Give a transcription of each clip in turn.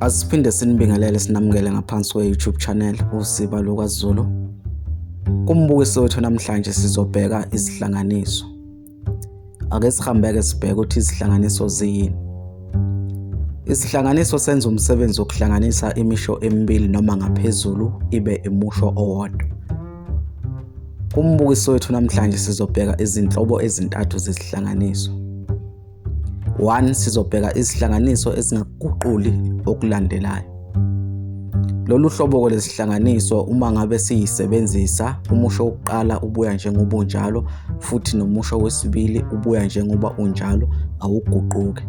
Asiphinde sinibingelele sinamukele ngaphansi kwe-YouTube channel uSiba LukaZulu. Kumbukiso wethu namhlanje sizobheka izihlanganiso. Ake sihambeke sibheke ukuthi izihlanganiso ziyini. Isihlanganiso senza umsebenzi wokuhlanganisa imisho emibili noma ngaphezulu ibe imusho owodwa. Kumbukiso wethu namhlanje sizobheka izinhlobo ezintathu zesihlanganiso. 1 sizobheka izihlanganiso ezingaguquli okulandelayo lolu hlobo-ke lesihlanganiso uma ngabe siyisebenzisa umusho wokuqala ubuya njengoba unjalo futhi nomusho wesibili ubuya njengoba unjalo awuguquke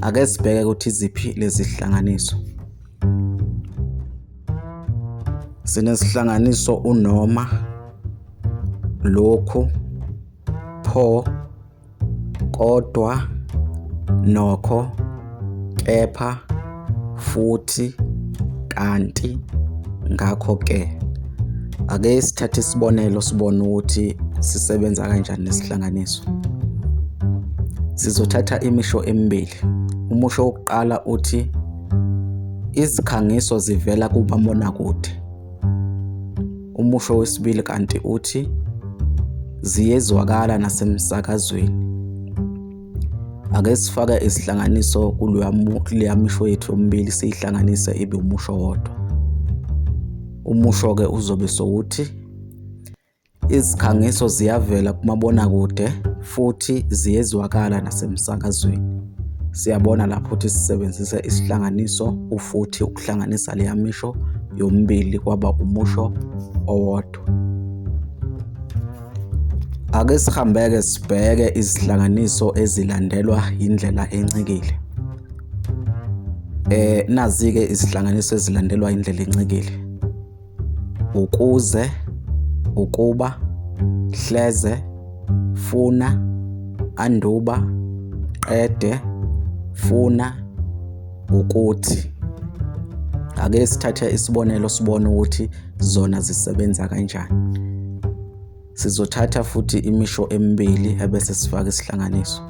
ake sibheke ukuthi iziphi lezi zihlanganiso sinesihlanganiso unoma lokhu pho Kodwa, nokho, kepha, futhi, kanti, ngakho-ke. Ake sithathe isibonelo sibone ukuthi sisebenza kanjani nesihlanganiso. Sizothatha imisho emibili. Umusho wokuqala uthi izikhangiso zivela kumabonakude. Umusho wesibili kanti uthi ziyezwakala nasemsakazweni. Ake sifake isihlanganiso kuleya misho yethu yomibili siyihlanganise ibe umusho wodwa. Umusho-ke uzobe sowuthi izikhangiso ziyavela kumabonakude futhi ziyezwakala nasemsakazweni. Siyabona lapho ukuthi sisebenzisa isihlanganiso ufuthi ukuhlanganisa leya misho yomibili kwaba umusho owodwa. Ake sihambeke sibheke izihlanganiso ezilandelwa indlela encikile. Eh nazi-ke izihlanganiso ezilandelwa indlela encikile. ukuze, ukuba, hleze, funa, anduba, qede, funa, ukuthi. Ake sithathe isibonelo sibone ukuthi zona zisebenza kanjani. Sizothatha futhi imisho emibili ebese sifaka isihlanganiso.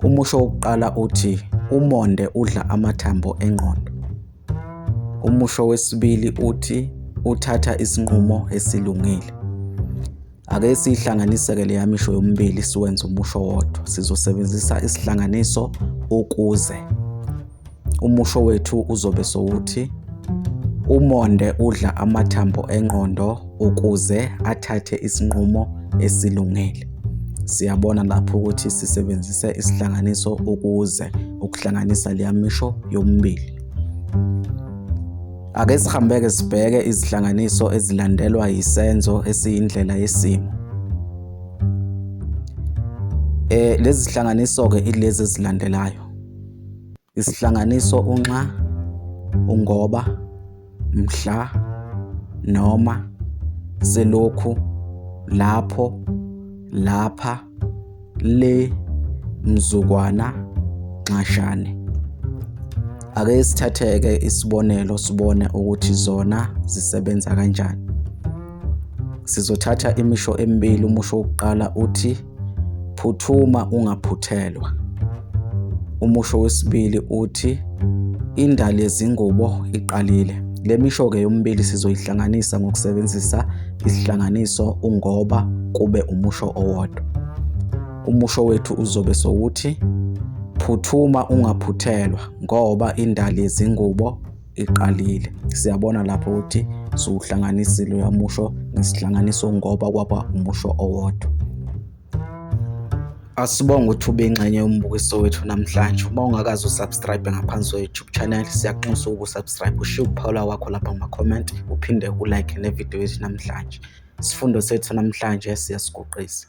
Umusho wokuqala uthi umonde udla amathambo engqondo. Umusho wesibili uthi uthatha isinqumo esilungile. Ake siyihlanganiseke leya misho yomibili siwenze umusho wodwa. Sizosebenzisa isihlanganiso ukuze. Umusho wethu uzobe sowuthi umonde udla amathambo engqondo ukuze athathe isinqumo esilungile. Siyabona lapho ukuthi sisebenzise isihlanganiso ukuze ukuhlanganisa leya misho yomibili. Ake sihambeke sibheke izihlanganiso ezilandelwa yisenzo esiyindlela yesimo. Eh lezi zihlanganiso ke ilezi ezilandelayo. Isihlanganiso unxa ungoba mhla noma selokhu lapho lapha le mzukwana nxashane ake sithatheke isibonelo sibone ukuthi zona zisebenza kanjani Sizothatha imisho emibili. Umusho wokuqala uthi phuthuma ungaphuthelwa. Umusho wesibili uthi indali yezingubo iqalile. Le misho-ke yomibili sizoyihlanganisa ngokusebenzisa isihlanganiso ungoba kube umusho owodwa. Umusho wethu uzobe sowuthi phuthuma ungaphuthelwa ngoba indali yezingubo iqalile. Siyabona lapho ukuthi siwuhlanganisile uyamusho ngesihlanganiso ngoba kwaba umusho owodwa. Asibonge ukuthi ube ingxenye yombukiso wethu namhlanje. Uma ungakaze usubscribe ngaphansi kwe-YouTube channel, siyakunxusa ukusubscribe, ushiye ukuphawula kwakho lapha kuma-comment, uphinde ulike ne-video yethu namhlanje. Isifundo sethu namhlanje siyasiguqisa.